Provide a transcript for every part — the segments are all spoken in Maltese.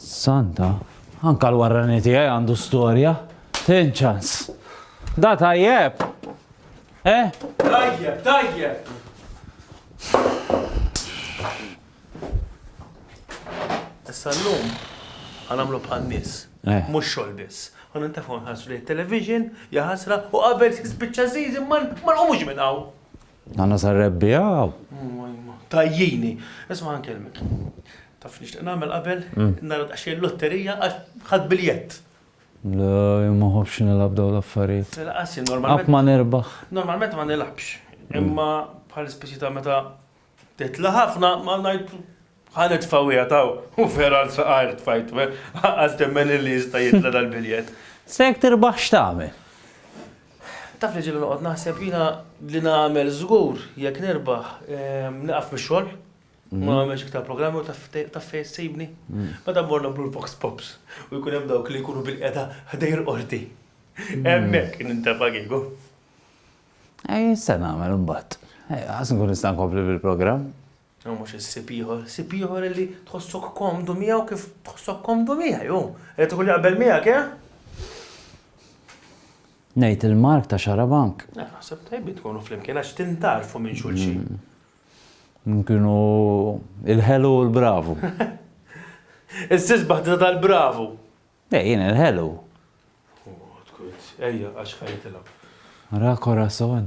Santa, anke l-warrani tiegħi għandu storja. Tin ċans. Da tajjeb! Eh? Tajjeb, tajjeb! Issa l-lum, għanamlu bħal nis. Eh. Mux xol biss. Għan intafu nħasru li television, jaħasra, u qabel s-bicċa zizi, man, man, u mux minnaw. Għanna sa rebbi għaw. Tajjini. Isma għan kelmek. Taf nixtieq nagħmel qabel nara daqsxejn lotterija għax ħadd biljett. La, jien ma ħobbx nilgħab dawn l-affarijiet. Tilqas jien normalment. Qatt ma nirbaħ. Normalment ma nilgħabx. Imma bħal speċi ta' meta titla' ħafna ma ngħid Ħa nitfgħuha taw u fergħa l-saqajr tfajtu, eh? Lanqas temmen illi jista' jitla' dal-biljett. Se jekk tirbaħ x'tagħmel? Taf li ġieli noqgħod naħseb jiena li nagħmel żgur jekk nirbaħ nieqaf mix-xogħol, ma nagħmilx iktar programmi u taf fejn ssibni? Meta mmur nagħmlu l-vox pops u jkun hemm dawk li jkunu bilqiegħda ħdejn il-qorti. Hemmhekk nintefa' kieku. Ejn se nagħmel imbagħad. Ejja, ħa nkun nista' nkompli bil-programm. Hu mhux ħsieb ieħor, ħsieb ieħor illi tħossok komdu miegħu kif tħossok komdu miegħi hu. Irid ikun jaqbel miegħek, eh? Ngħid il-mark ta' xarabank. Eh, naħseb tajbin tkunu flimkien għax tintarfu minn xulxin. Mm. Kienu il-ħelu u l-bravu. Is-sisbaħ tal-bravu. Ej, eh, jien il-ħelu. Ejja, għax ħajtilha. Ra korason.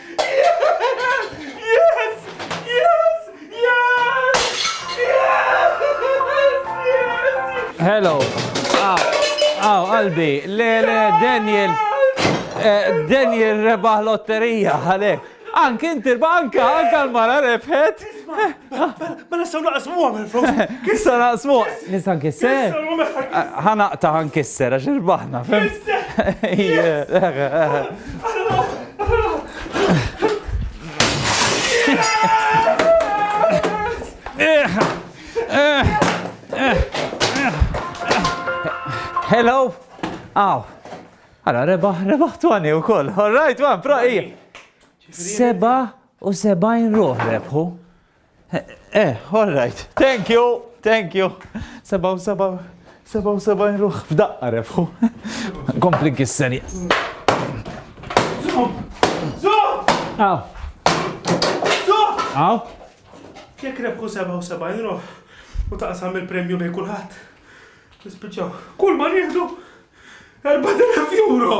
Hello. Aw, aw, qalbi, le, le, Daniel. Eh, Daniel rebaħ lotterija, għalek. Anki inti banka, anka l-mara rebħet. Ma nistaw naqsmu għamil flus. Kissa naqsmu. Nista nkisser. Ħanaqta ħankisser għax irbaħna. Hello. Aw. Għara, rebaħ, rebaħ twani u koll. All right, one, pro, ija. Seba U sebgħin ruħ rebħu. Eh, all right. Thank you, thank you. Sebgħu sebgħu sebgħu sebgħin ruħ f'daqqa rebħu. Kompli kisseri. Zum! Zum! Aw. Zum! Aw. Jekk rebħu sebgħu sebgħin ruħ u taqsam il-premju bej kulħadd. Nispiċċaw. Kull ma nieħdu 4000 euro.